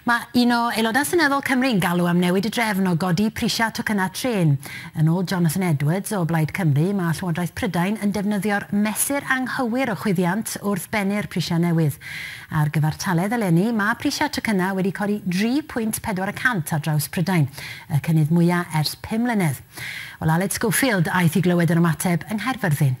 Mae un o Aelodau Seneddol Cymru yn galw am newid y drefn o godi prisiau tocynnau trên. Yn ôl Jonathan Edwards o Blaid Cymru, mae Llywodraeth Prydain yn defnyddio'r mesur anghywir o chwyddiant wrth bennu'r prisiau newydd. Ar gyfartaledd eleni, mae prisiau tocynnau wedi codi 3.4 y cant ar draws Prydain, y cynnydd mwyaf ers pum mlynedd. Wel, Aled Schofield aeth i glywed yr ymateb yng Nghaerfyrddin.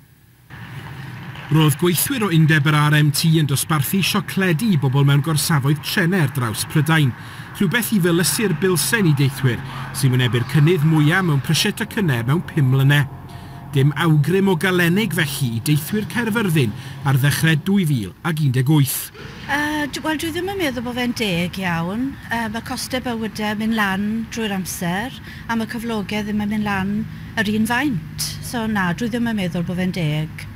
Roedd gweithwyr o undeb yr RMT yn dosbarthu siocledi i bobl mewn gorsafoedd trenau ar draws Prydain, rhywbeth i felysu'r bilsen i deithwyr sy'n wynebu'r cynnydd mwyaf mewn prisiau tocynnau mewn pum mlynedd. Dim awgrym o galenig felly i deithwyr Caerfyrddin ar ddechrau 2018. Yy, wel dwi ddim yn meddwl bod fe'n deg iawn. Yy, mae costau bywydau yn mynd lan drwy'r amser. am y cyflogedd ddim yn mynd lan yr un faint. So na, dwi ddim yn meddwl bod fe'n deg.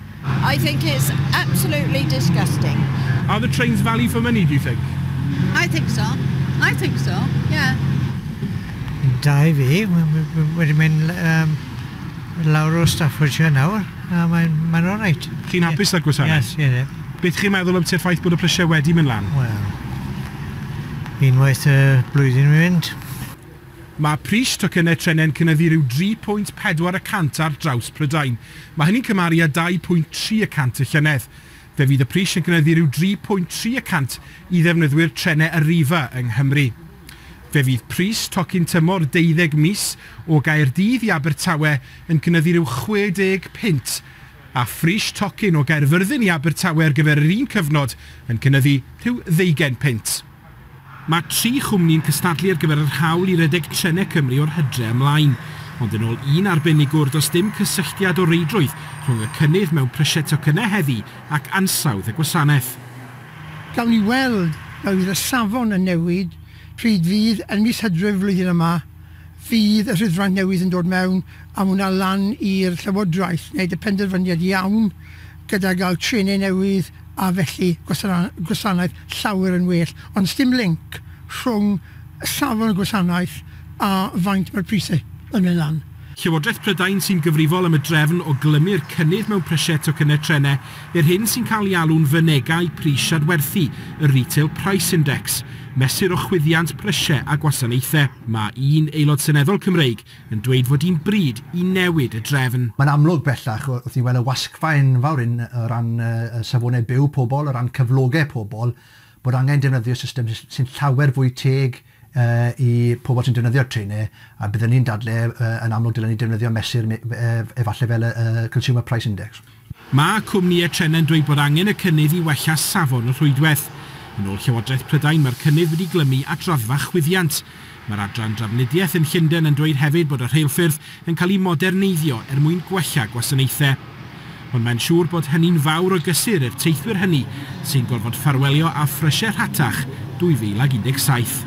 I think it's absolutely disgusting. Are the trains value for money, do you think? I think so. I think so, yeah. Da i fi, wedi mynd um, lawr o Staffordshire nawr, a mae'n mae alright. Chi'n hapus â'r gwasanaeth? Yes, yes. Beth chi'n meddwl am ti'r ffaith bod y prisiau wedi mynd lan? Wel, unwaith y blwyddyn mynd. Mae pris tocynnau trenau'n cynyddu rhyw dri pwynt pedwar y cant ar draws Prydain. Mae hynny'n cymharu â dau pwynt tri y cant y llynedd. Fe fydd y pris yn cynyddu rhyw dri pwynt tri y cant i ddefnyddwyr trenau Arriva yng Nghymru. Fe fydd pris tocyn tymor deuddeg mis o Gaerdydd i Abertawe yn cynyddu rhyw chwe deg punt, a phris tocyn o Gaerfyrddin i Abertawe ar gyfer yr un cyfnod yn cynyddu rhyw ddeugain punt. Mae tri chwmni'n cystadlu ar gyfer yr hawl i redeg trenau Cymru o'r hydre ymlaen. Ond yn ôl un arbenigwr, does dim cysylltiad o reidrwydd rhwng y cynnydd mewn prisiau tocynnau heddi ac ansawdd y gwasanaeth. Gawn ni weld a fydd y safon yn newid pryd fydd yn mis Hydref flwyddyn yma, fydd y rhydfraint newydd yn dod mewn a mae hwnna lan i'r Llywodraeth wneud y penderfyniad iawn. gyda gael trenau newydd a felly gwasanaeth llawer yn well, ond does dim linc rhwng safon y gwasanaeth a faint mae'r prisau yn mynd lan. Llywodraeth Prydain sy'n gyfrifol am y drefn o glymu'r cynnydd mewn prisiau tocynnau trenau i'r hyn sy'n cael ei alw'n fynegai pris adwerthu, y Retail Price Index, mesur o chwyddiant prisiau a gwasanaethau. Mae un Aelod Seneddol Cymreig, yn dweud fod hi'n bryd i newid y drefn. Mae'n amlwg bellach wrth ni weld y wasgfa enfawr hyn o ran safonau byw pobl, o ran cyflogau pobl, bod angen defnyddio system sy'n llawer fwy teg i pobl sy'n defnyddio'r trenau, a byddwn ni'n dadlau yn amlwg dylen ni defnyddio mesur efallai fel y Consumer Price Index. Mae cwmnïau trenau'n dweud bod angen y cynnydd i wella safon y rhwydwaith. Yn ôl Llywodraeth Prydain, mae'r cynnydd wedi glymu at raddfa chwyddiant. Mae'r Adran Drafnidiaeth yn Llundain yn dweud hefyd bod y rheilffyrdd yn cael eu moderneiddio er mwyn gwella gwasanaethau. Ond mae'n siŵr bod hynny'n fawr o gysur i'r teithwyr hynny sy'n gorfod ffarwelio â phrysiau rhatach 2017.